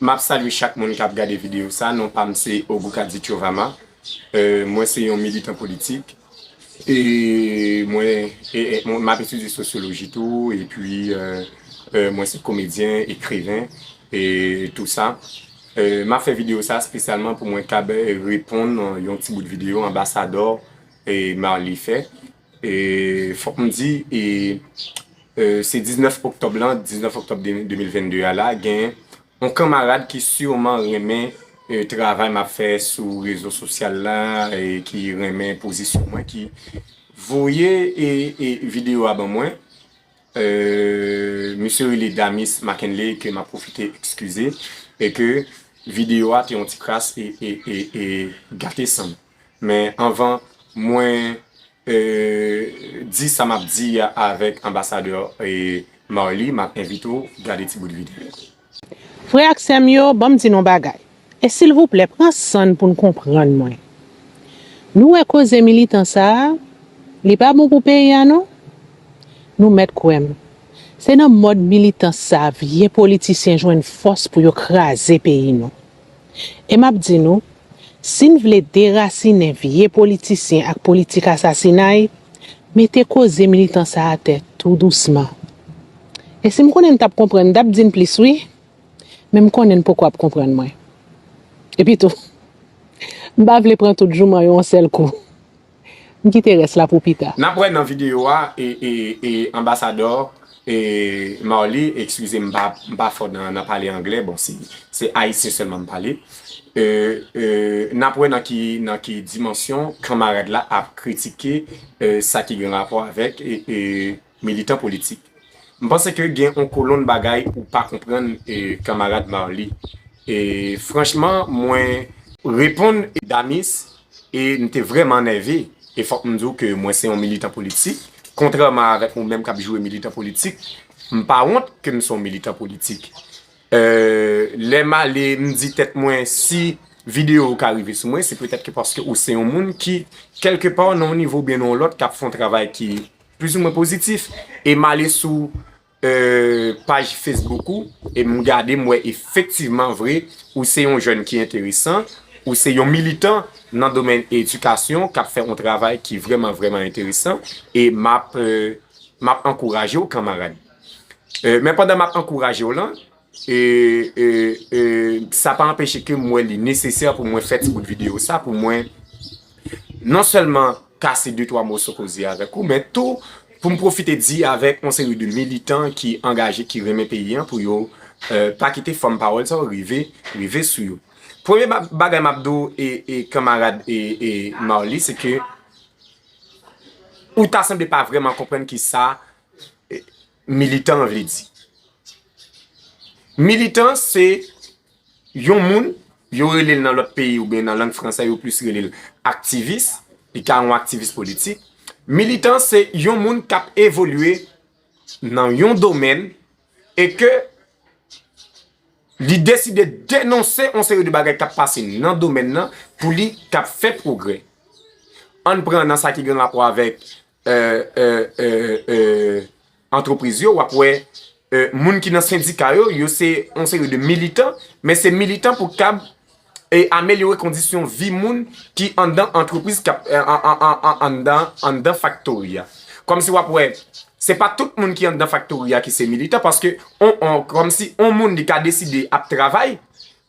Map salye chak moun kap gade video sa non pam se Ogukadi Chovama mwen se yon militan politik e mwen map etidye sosyoloji tou epi mwen se komedyen ekriven e tou sa map fè video sa spesyalman pou mwen kab reponn yon ti bout video anbasadò Marly fè Fòk m di, se 19 oktòb lan, 19 oktòb 2022 a la, gen yon kanmarad ki siman renmen travay m ap fè sou rezo sosyal la, ki renmen pozisyon mwen, ki voye videyo a ban mwen. Misye rele Damis Mackenley, ke m ap pwofite ekskize, e ke videyo a te yon ti kras e gate san m. Men anvan mwen di sa map di a avèk Anbasadè Marly map envite w gade ti bout videyo sa. Frè ak sè m yo, banm di nou bagay, e silvouplè pran san n pou n konprann mwen. Nou wè koze militan sa a, li pa bon pou peyi a non. Nou mèt kwè m, se nan mòd militans sa a vye politisyen jwenn fòs pou yo kraze peyi nou. E m ap di nou, si n vle derasinen vye politisyen ak politik asasinay, mete koze militan sa atè tou dousman. E si m konnen n t ap konprann, m t ap di n plis wi, men m konnen n poko ap konprann mwen. Epitou, m pa vle pran tout jouman yo yon sèl kou. M kite rès la pou pita. Nap wè nan video a e anbasadò e Marly ekskize m pa fò nan pale anglè bon se ayisyen sèlman m pale e nap wè nan ki dimansyon kanmarad la ap kritike sa ki gen rapò avèk e Militan politik. M panse ke gen on kolonn bagay ou pa konprann kanmarad Marly. E franchman mwen. Reponn Danis e m te vrèman nève. E fòk m di w ke mwen se on militan politik. Kontrèman avèk ou menm k ap joure militan politik. M pa wont ke m se on militan politik. E lè m ale m di tèt mwen si videyo ou ka rive sou mwen se petèt ke paske ou se on moun ki kèlke pa nan on nivo oubyen nan on lòt k ap fè on travay ki. Plis ou mwen pozitif. E m ale sou paj Facebook ou e m gade m wè efektivman vre ou se yon jèn ki enteresan, ou se yon militan nan domèn edikasyon k ap fè yon travay ki vrèman vrèman enteresan e m ap ankouraje w kanmarad. Men pandan m ap ankouraje w lan. E sa pa anpeche ke m wè li nesesè pou mwen fè ti bout videyo sa pou mwen non sèlman kase de twa moso koze avèk ou men tou pou m pwofite di avèk yon seri de militan ki angaje ki renmen peyi an pou yo pa kite fòm pawòl sa yo rive sou yo. Premye bagay m ap di w e kanmarad Marly se ke ou ta sanble pa vrèman konprann kisa Militan an vle di. Militan se yon moun, yo rele l nan lòt peyi oubyen nan lang franse yo plis rele l aktivis, li ka yon aktivis politik. Militan se yon moun k ap evolye nan yon domèn e ke li deside denonse yon seri de bagay k ap pase nan domèn nan pou li ka fè pwogrè. An n pran nan sa ki gen rapò avèk antrepriz yo wap wè moun ki nan sendika yo yo se yon seri de militan men se militan pou kab amelyore kondisyon vi moun ki andan antrepriz andan faktori a kòm si wap wè se pa tout moun ki andan faktori a ki se militan paske kòm si yon moun li ka deside ap travay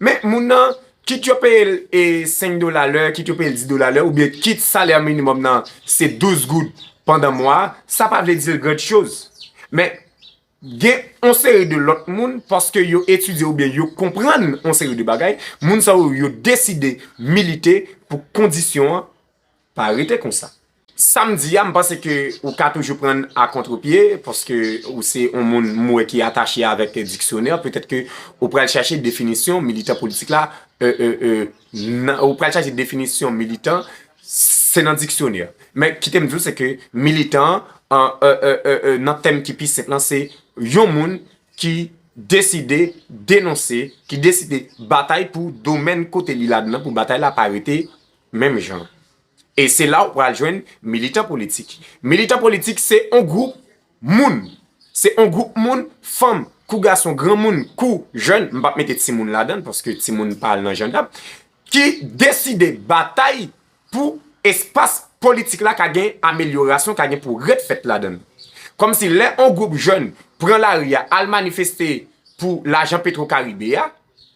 men moun nan Kit yo peye l 5 dola lè, kit yo peye l 10 dola lè, oubyen kit salè minimòm nan se 12 goud pandan mwa a, sa pa vle di l grand chose. Men, gen yon seri de lòt moun, paske yo etidye oubyen yo konprann yon seri de bagay, moun sa yo, yo deside milite pou kondisyon an Pa rete konsa. Sam di a m panse ke ou ka toujou prann a kontre pye paske ou se yon moun m wè ki atache avèk diksyonè petèt ke ou pral chache definisyon militan politik la nan ou pral chache definisyon militan se nan diksyonè men kite m di w se ke militan nan tèm ki pi senp lan se yon moun ki deside denonse ki deside batay pou domèn kote li ladan pou batay la pa rete Menm jan. E se la ou pral jwenn militan politik. Militan politik se on gwoup moun. Se on gwoup moun, fanm kou gason, granmoun kou jèn, m pa p mete timoun ladan l paske timoun pa al nan jandam, ki deside batay pou espas politik la ka gen amelyorasyon, ka gen pwogrè k fèt ladan l. Kòm si lè on gwoup jèn pran lari a al manifeste pou lajan petwokaribe a,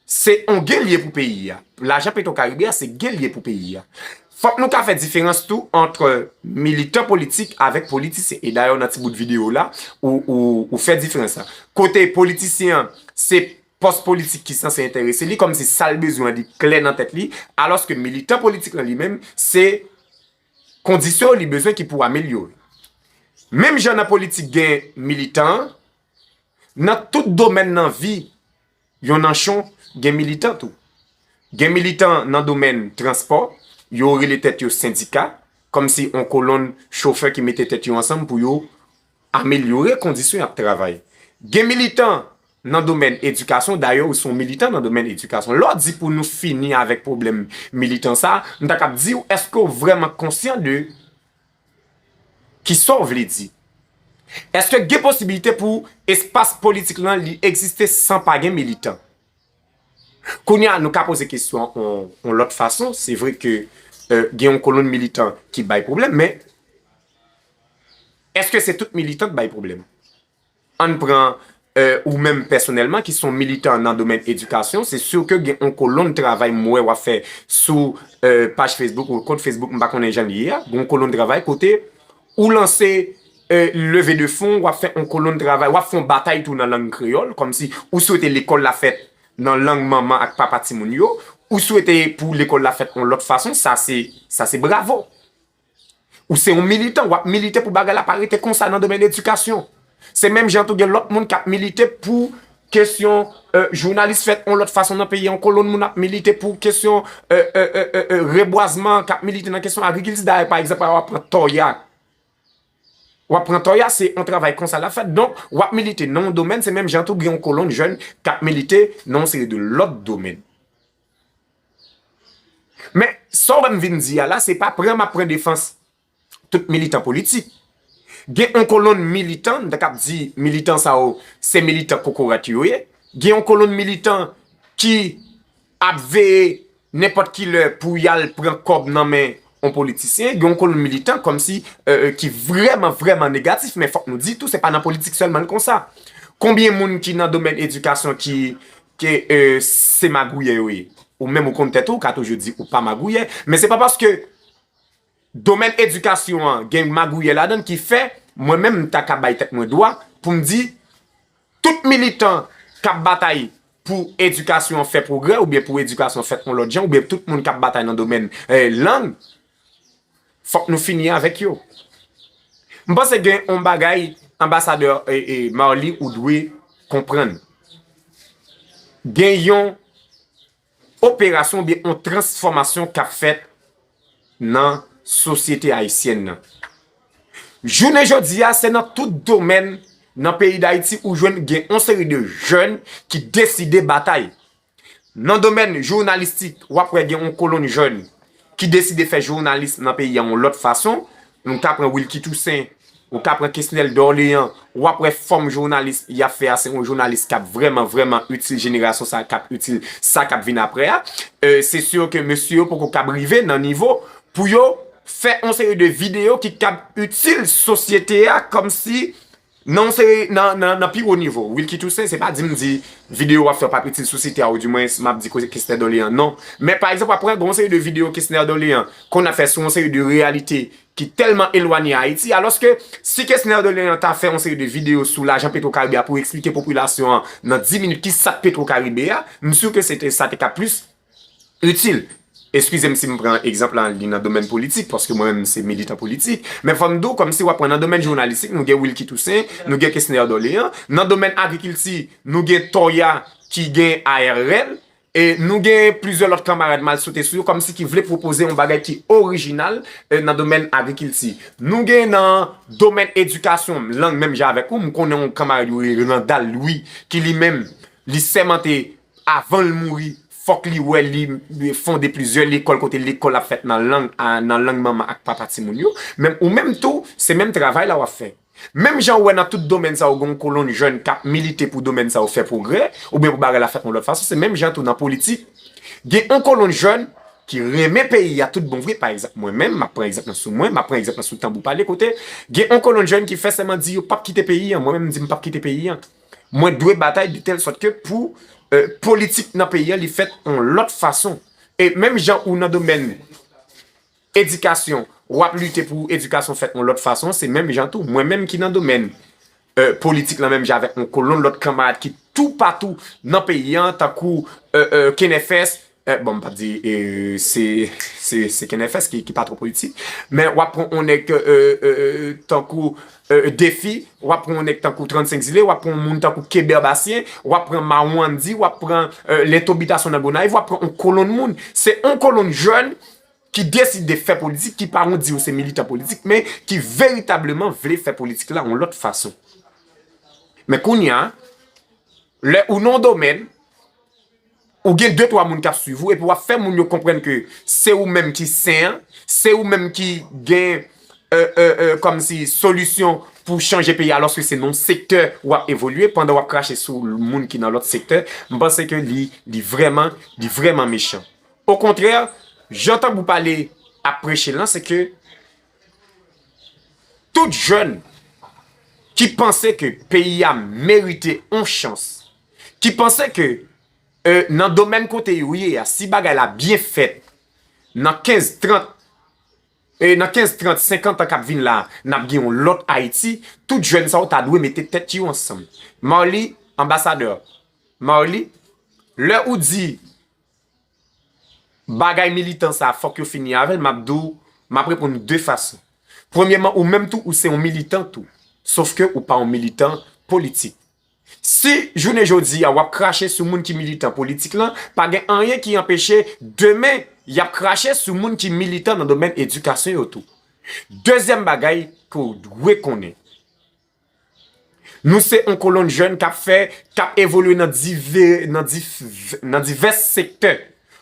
Se on gel ye pou peyi a. Lajan petro karibe a se gel ye pou peyi a. Fok nou ka fè diferans tou antre militan politik avek politisyen. E dayè w nan ti bout video w la, ou fè diferans la. Kote politisyen an, se pos politik ki sanse enterese li, kom si sal bezwen an li klè nan tèt li. Alos ke militan politik lan li menm, se kondisyon li bezwen ki pou amelyore. Menm jan nan politik gen militan, nan tout domen nan vi. Yon nanchon gen militan tou. Gen militan nan domèn transpò, yo rele tèt yo sendika, kòmsi yon kolonn chofè ki mete tèt yo ansanm pou yo amelyore kondisyon y ap travay. Gen militan nan domèn edikasyon, dayè ou se yon militan nan domèn edikasyon. Lè w di pou nou fini avèk pwoblèm militan sa a, m ta kab di w, èske w vrèman konsyan de Kisa w vle di? Eske gen posibilite pou espas politik lan li egziste san pa gen militan? Kounye a nou ka poze kesyon an yon lòt fason, se vre ke gen yon kolonn militan ki bay pwoblèm men eske se tout militan k bay pwoblèm? An n pran ou menm pèsonèlman ki s on militan nan domèn edikasyon, se sur ke gen on kolonn travay m wè w ap fè sou paj Facebook ou kont Facebook m pa konnen jan l ye a, gen on kolonn travay kote ou lanse leve de fon, w ap fè on kolonn travay, w ap fè on batay tou nan lang kreyòl, kòm si ou swete lekòl la fèt nan lang manman ak papa timoun yo, ou swete pou lekòl la fèt on lòt fason, sa se, sa se bravo! Ou se yon militan, w ap milite pou bagay la pa rete konsa nan domèn edikasyon. Se menm jan tou gen lòt moun k ap milite pou kesyon jounalis fèt yon lòt fason nan peyi an, kolonn moun ap milite pou kesyon rebwazman, k ap milite nan kesyon agrikilti. Dayè, pa egzanp, w ap pran Tòya. W ap pran Tòya, se yon travay konsa l ap fèt. Donk, w ap milite nan yon domèn, se menm jan tou gen yon kolonn jèn k ap milite nan yon seri de lòt domèn. Men, sa w wè m vin di a la, se pa pran m ap pran defans tout militan politik. Gen yon kolonn militan, m ta kab di militan sa yo se militan kokorat yo ye. Gen yon kolonn militan ki ap veye nenpòt ki lè pou y al pran kòb nan men yon politisyen. Gen yon kolonn militan kòmsi ki vrèman vrèman negatif. Men fòk nou di tou, se pa nan politik sèlman l konsa. Konbyen moun ki nan domèn edikasyon ki Ke se magouyè yo ye. Ou menm ou konn tèt ou, ou ka toujou di ou pa magouyè, men se pa paske domèn edikasyon an gen magouyè ladann ki fè mwen menm m ta ka bay tèt mwen dwa pou m di tout militan k ap batay pou edikasyon an fè pwogrè oubyen pou edikasyon an fèt yon lòt jan oubyen tout moun k ap batay nan domèn lang Fòk nou fini avèk yo. M panse gen yon bagay anbasadè Marly ou dwe konprann. Gen yon operasyon oubyen yon transfòmasyon kap fèt nan sosyete ayisyèn nan. Jounen jodi a se nan tout domèn nan peyi Dayiti ou jwenn gen yon seri de jèn ki deside batay. Nan domèn jounalistik, w ap wè gen yon kolonn jèn ki deside fè jounalis nan peyi a yon lòt fason. Nou ka pran Wilky Toussaint, ou ka pran Kesnel Dorlean, w ap wè fòm jounalis y ap fè a se yon jounalis k ap vrèman, vrèman itil jenerasyon sa a, k ap itil sa k ap vin aprè a. Se sur ke mesye yo poko kab rive nan nivo pou yo fè yon seri de videyo ki kab itil sosyete a kòmsi Non se nan pi wo nivo. Wilky Toussaint se pa di m di videyo w ap fè w pa p itil sosyete a oudiwens m ap di koze Kesner Dolean non. Men pa egzanp w ap pran gen yon seri de videyo Kesner Dolean konn ap fè sou yon seri de reyalite ki tèlman elwanye a Ayiti alòske si Kesner Dolean ta fè yon seri de videyo sou lajan Petro Caribe a pou eksplike popilasyon an nan 10 minit ki sa k Petro Caribe a m si w ke se te sa te ka plis itil. Eskize m si m pran egzanp lan li nan domèn politik, paske mwen menm se militan politik. Men fò m di w kòmsi w ap pran nan domèn jounalistik, nou gen Wilky Toussaint, nou gen Kesner Dorlean. Nan domèn agrikilti, nou gen Thorya ki gen ARL. E nou gen plizyè lòt kanmarad m al sote sou yo kòmsi ki vle pwopoze yon bagay ki orijinal nan domèn agrikilti. Nou gen nan domèn edikasyon, lang menm jan avèk ou, m konnen yon kanmarad yo rele Randal Louis ki li menm li sèmante Avan l mouri, fòk li wè li fonde plizyè lekòl kote lekòl ap fèt nan lang manman ak papa timoun yo. Menm ou menm tou, se menm travay la w ap fè. Menm jan ou wè nan tout domèn sa yo gen yon kolonn jèn k ap milite pou domèn sa yo fè pwogrè oubyen pou bagay la fèt yon lòt fason, se menm jan tou nan politik gen yon kolonn jèn ki renmen peyi a tout bon vre. Pa egzanp, mwen menm, m ap pran egzanp nan sou mwen, m ap pran egzanp nan sou Tanbou Pale kote gen yon kolonn jèn ki fè sèman di yo pap kite peyi an. Mwen menm m di m pap kite peyi an. Mwen dwe batay de tèl sòt ke pou politik nan peyi an li fèt yon lòt fason. E menm jan ou nan domèn edikasyon w ap lite pou edikasyon fèt yon lòt fason, se menm jan tou mwen menm ki nan domèn politik lan menm jan avèk yon kolonn lòt kanmarad ki toupatou nan peyi an tankou Kenèfès, Bon m pap di se kenfs ki pa twò politik men wap pran on nèg tankou Defi wap pran on nèg tankou 35 zile wap pran on moun tankou Keber Basyen wap pran Mawandi wap pran Lento Bitasyon nan Gonayiv wap pran on kolonn moun se on kolonn jèn ki deside fè politik ki pa on di yo se militan politik men ki veritableman vle fè politik la on lòt fason men kounya lè ou nan on domèn Ou gen de twa moun kap swiv ou epi wap fè moun yo konprann ke se ou menm ki sen an, se ou menm ki gen kòmsi solisyon pou chanje peyi a alòske se nan yon sektè wap evolye pandan wap krache sou moun ki nan lòt sektè, m panse ke li vrèman, li vrèman mechan. Okontrè, jan Tanbou Pale ap preche l lan se ke tout jèn ki panse ke peyi a merite yon chans ki panse ke nan domèn kote yo ye a, si bagay la byen fèt, nan 15, 30, nan 15, 30, 50 an kap vin la, nap gen yon lòt Ayiti, tout jèn sa yo ta dwe mete tèt yo ansanm. Marly, Anbasadè Marly, lè ou di bagay militan sa fòk yo fini avèl, map di w, map reponn ou 2 fason. Premyèman, ou menm tou ou se yon militan tou, sof ke ou pa yon militan politik. Si jounen jodi a wap krache sou moun ki militan politik lan, pa gen anyen ki anpeche demen yap krache sou moun ki militan nan domèn edikasyon yo tou. Dezyèm bagay ke w dwe konnen, nou se yon kolonn jèn kap fè, kap evolye nan divès sektè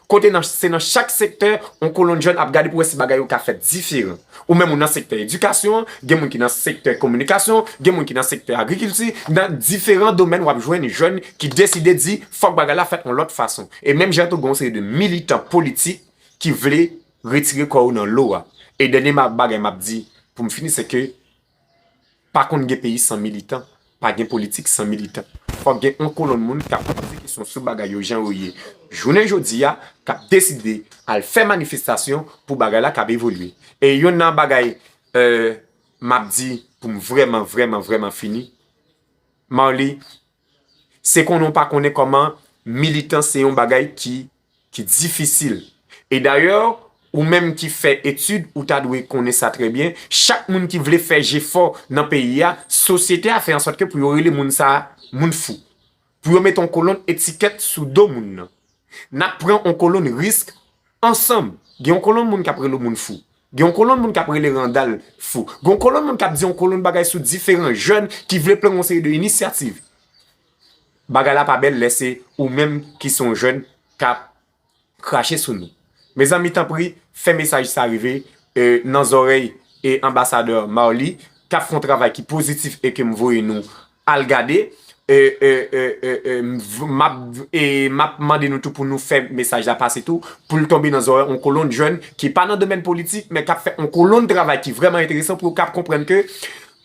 Kote nan se nan chak sektè yon kolonn jèn ap gade pou wè si bagay yo ka fèt diferan. Ou menm ou nan sektè edikasyon an, gen moun ki nan sektè kominikasyon, gen moun ki nan sektè agrikilti, nan diferan domèn wap jwenn jèn ki deside di fòk bagay la fèt yon lòt fason. E menm jan tou gen yon seri de militan politik ki vle retire kò yo nan lo a. E dènye bagay map di pou m fini se ke Pa konn gen peyi san militan, pa gen politik san militan. Fòk gen yon kolonn moun k ap poze kesyon sou bagay yo jan yo ye jounen jodi a, k ap deside al fè manifestasyon pou bagay la kab evolye. E yonn nan bagay m ap di pou m vrèman vrèman vrèman fini, Marly, Se konnen ou pa konnen kòman militan se yon bagay ki difisil. E dayè, ou menm ki fè etid, ou ta dwe konnen sa trè byen, chak moun ki vle fè jefò nan peyi a, sosyete a fè ansòt ke pou yo rele moun sa a moun fou. Pou yo mete yon kolonn etikèt sou do moun nan. N ap pran yon kolonn risk. Ansanm, gen yon kolonn moun k ap rele yon moun fou. Gen yon kolonn moun k ap rele Randal fou. Gen yon kolonn moun k ap di yon kolonn bagay sou diferan jèn ki vle pran yon seri de inisyativ. Bagay la pa bèl lè se ou menm ki se yon jèn k ap krache sou nou. Mezanmi tanpri, fè mesaj sa rive nan zòrèy Anbasadè Marly k ap fè yon travay ki pozitif e ke m voye nou al gade map mande nou tou pou nou fè mesaj la pase tou pou l tonbe nan zorèy on kolonn jèn ki pa nan domèn politik men kap fè on kolonn travay ki vrèman enteresan pou yo kap konprann ke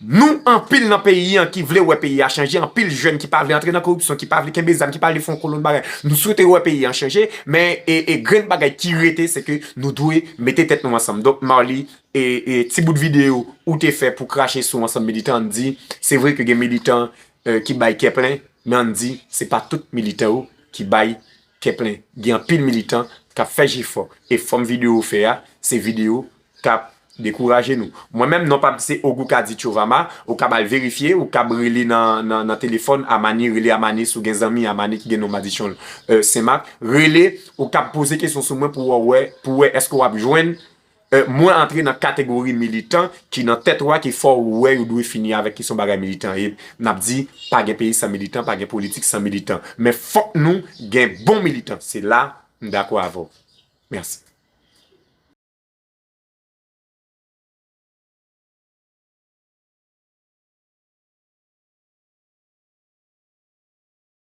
nou anpil nan peyi an ki vle wè peyi a chanje anpil jèn ki pa vle antre nan koripsyon ki pa vle kenbe zam ki pa vle fon kolonn bagay nou swete wè peyi an chanje men grenn bagay ki rete se ke nou dwe mete tèt nou ansanm donk Marly Ti bout videyo ou te fè pou krache sou ansanm militan an di, se vre ke gen militan ki bay kè plen, men an di se pa tout militan yo ki bay kè plen. Gen anpil militan kap fè jefò e fòm videyo ou fè a, se videyo kap dekouraje nou. Mwen menm non pam se Ogou Kadi Tchovama, ou kab al verifye, ou kab rele nan telefòn Amani, rele Amani si w gen zanmi Amani ki gen non Madichon Senmak, rele, ou kab poze kesyon sou mwen pou wè eske wap jwenn Mwen antre nan kategori militan ki nan tèt wa ki fò ou wè yo dwe fini avèk kesyon bagay militan ye nap di pa gen peyi san militan pa gen politik san militan men fòk nou gen bon militan se la m dakò avè w mèsi.